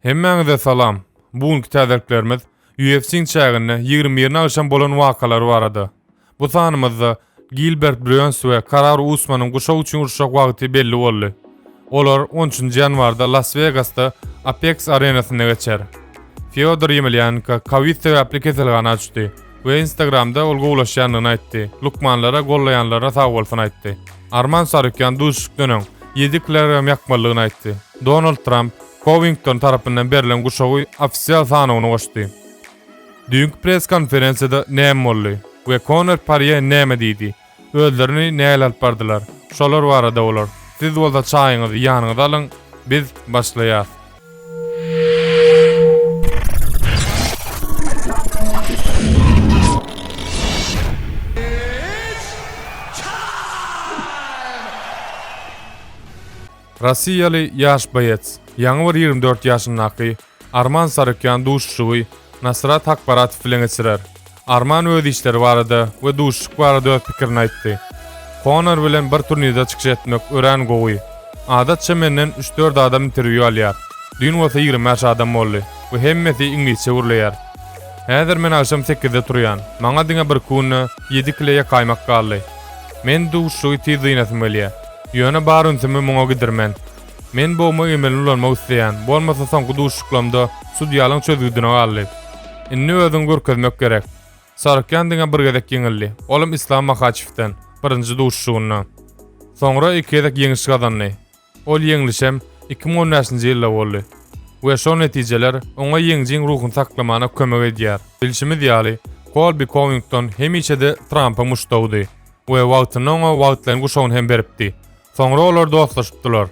Hemmäňize salam. Bu günki täzeliklerimiz UFC-iň çäginde ýigrimi birini agşam bolan wakalary barada. Bu sanymyzda Gilbert Brýons we Karara Usmanyň guşak üçin uruşjak wagty belli boldy. Olar on üçünji ýanwarda Las Wegasda Apex arenasynda geçer. Fýodor Ýemelýanenko kowid sebäpli keselhana düşdi. we Instagramda ol gowulaşýandygyny aýtdy. Lukmanlara gollaýanlaryna sag bolsun aýtdy. Arman Sarukýan duşuşykdan öň, ýedi kilogram ýakmalydygyny aýtdy. Donald Tramp Kowington tarapyndan berlen guşagy ofisial sanawyna goşdy. Düýnki press-konferensiýada näme boldy we Konor Parýe näme diýdi? Özlerini näl alyp bardylar? Şolar barada olar. Siz bolsa çaýyňyzy ýanyňyza alyň, biz başlaýas. Rossiýaly ýaş boýeç, ýaňy bir ýigrimi dört ýaşyndaky Arman Sarykýan duşuşygy Nasrat Hakbaratow bilen geçirer. Arman öz işleri barada we duşuşyk barada öz pikirini aýtdy. Konor bilen bir turnirde çykyş etmek örän gowy. Adatça menden üç-dört adam interwýu alýar. Düýn bolsa ýigrimi bäş adam boldy we hemmesi iňlisçe gürleýär. Häzir men agşam sekizde turýan, maňa diňe bir künde ýedi kile ýakaýmak galdy. Men duşuşygy tiz dynasym gelýär. Ýöne bar ünsümi muňa gidirmen. Men bogma emelini ulanmak isleýän, bolmasa soňky duşuşyklamda sudýalyň çözgüdine galdy. Indi özüňi görkezmek gerek. Sarykýan diňe bir gezek ýeňildi, olam Islam Mahaçewden, birinji duşuşygynda. Soňra iki gezek ýeňiş gazandy. Ol ýeňlişem iki müň on bäşinji ýylda boldy. We şol netijeler oňa ýeňjiň ruhuny saklamana kömek edýär. Bilşimiz ýaly, Kolbi Kowington hemişe-de Trampyň muşdagydy we wagtynda oňa wagtlaýyn guşagyny hem beripdi. Soňra olar dostlaşypdylar.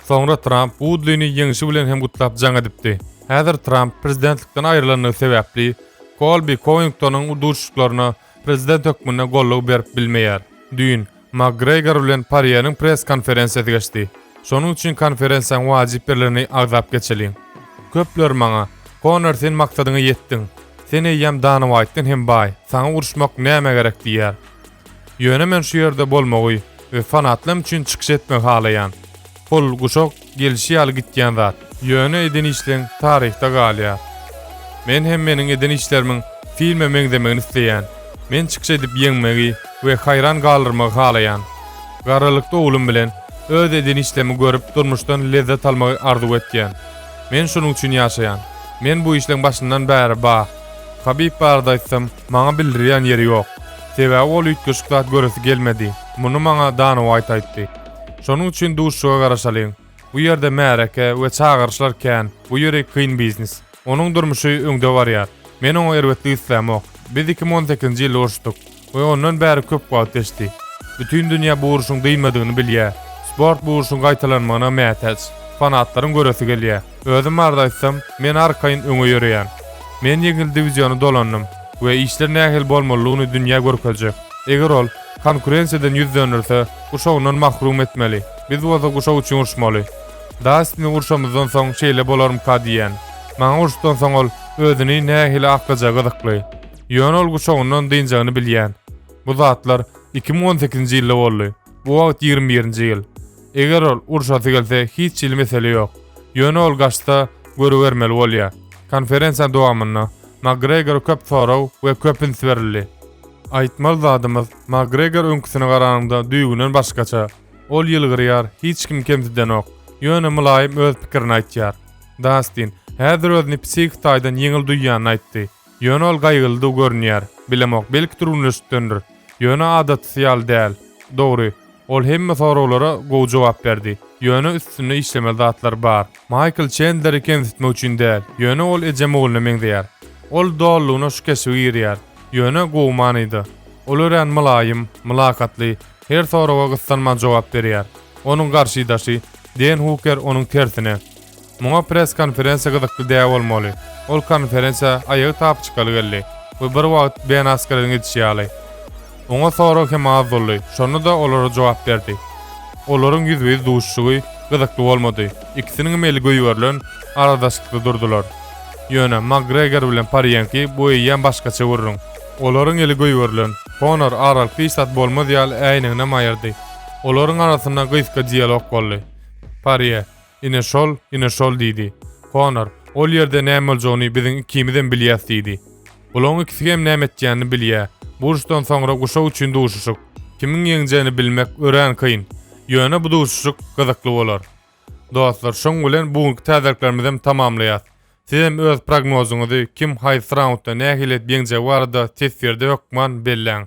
Soňra Tramp Wudlini ýeňşi bilen hem gutlap jaň edipdi. Häzir Tramp prezidentlikden aýrylandygy sebäpli, Kolbi Kowingtonyň duşuşyklaryna prezident hökmünde gollygy berip bilmeýär. Düýn Makgregor bilen Parýeniň press-konferensiýasy geçdi. Şonuň üçin konferensiýaň wajyp ýerlerini agzap geçeliň. Köpler maňa, Konor sen maksadyňa ýetdiň. Sen eýýäm Dana Waýtdan hem baý, saňa uruşmak nämä gerek diýýär. Ýöne men şu ýerde bolmagy we fanatlam üçin çykyş etmegi halaýan. Pul, guşak gelişi ýaly gitýän zat. Ýöne eden işleň taryhda galýar. Men hem meniň eden işlerimiň filme meňzemegini isleýän. Men çykyş edip ýeňmegi we haýran galdyrmagy halaýan. Garrylykda oglum bilen öz eden işlemi görüp durmuşdan lezzet almagy arzuw etýän. Men şunuň üçin ýaşaýan. Men bu işleň başyndan bäri ba. Habib barada aýtsam, Maňa bildirýän ýeri ýok. Sebäbi ol üýtgeşik zat göresi gelmedi. Muny maňa Dana Uaýt aýtdy. Şonuň üçin duşuşyga garaşalyň. Bu ýerde märeke we çagyryşlar kän, bu ýeri kyn biznes. Onuň durmuşy öňde barýar. Men oňa erbetlik islämok. Biz iki müň on sekizinji ýylda uruşdyk we ondan bäri köp wagt geçdi. Bütin dünýä bu uruşyň dynmadygyny bilýär. Sport bu uruşyň gaýtalanmagyna mätäç. Fanatlaryň göresi gelýär. Özüm barada aýtsam, men arkaýyn öňe ýöreýän. Men ýeňil diwiziony dolandym we işler nähili bolmalydygyny dünýä görkezjek. Eger ol konkurensiýadan ýüz dönderse, guşagyndan mahrum etmeli, biz bolsa guşak üçin urşmaly. Dastini urşamyzdan soň şeýle bolarmyka diýýän. Maňa urşdan soň ol özüni nähili aklajagy gyzykly. Ýöne ol guşagyndan dynjagyny bilýän. Bu zatlar iki müň on sekizinji ýylda boldy. Bu wagt ýigrimi birinji ýyl. Eger ol urşasy gelse hiç hili mesele ýok. Ýöne ol gaçsa, görübermeli bolýar. Konferensiýa dowamynda Makgregora köp sorag we köp üns berildi. Aýtmaly zadymyz, Makgregor öňküsine garanyňda düýbünden başgaça. Ol ýylgyrýar, hiç kimi kemsidenok, ýöne mylaýym öz pikirini aýtýar. Dastin, häzir özüni psihiki taýdan ýeňil duýýanyny aýtdy. Ýöne ol gaýgylydygy görünýär. Bilemok, belki türgenleşikdendir. Ýöne adatsy ýaly däl. Dogry, ol hemme soraglara gowy jogap berdi. Ýöne üstünde işlemeli zatlar bar. Maýkl Çendleri kemsitmek üçin däl, ýöne ol ejem ogluna meňzeýär. Ol dolulygyna şu keşbi girýär. Ýöne gowy manyda. Ol örän mylaýym, mylakatly, her soraga gyssanman jogap berýär. Onuň garşydaşy, Den Huker onuň tersine. Muňa press-konferensiýa gyzykly däl bolmaly. Ol konferensiýa aýagy tap çykaly geldi we bir wagt Ben Askeriň edişi ýaly. Oňa sorag hem az boldy, şonda-da olara jogap berdi. Olaryň ýüzbe-ýüz duşuşygy gyzykly bolmady, ikisiniňem eli goýberilen aradaşlykda durdular. Ýöne Makgregor bilen Parýenki bu eýýäm başgaça gürrüň. Olaryň eli goýberilen, Konor aralyk hiç zat bolmaz ýaly äýneginem aýyrdy. Olaryň arasynda gysga dialog boldy. Parýe. Ine şol, ine şol, diýdi. Konor, Ol ýerde näme boljagyny biziň ikimizem bilýäs, diýdi. Bulaň ikisem näme etýänini bilýä. Bu uruşdan soňra guşak üçin duşuşyk. Kimiň ýeňjegini bilmek örän kyn. Ýöne bu duşuşyk gyzykly bolar. Dostlar, şoň bilen bu günki täzeliklerimizem tamamlaýas. Sizem öz prognozyňyzy kim haýsy raundda nähili edip ýeňjegi barada teswirde hökman belläň.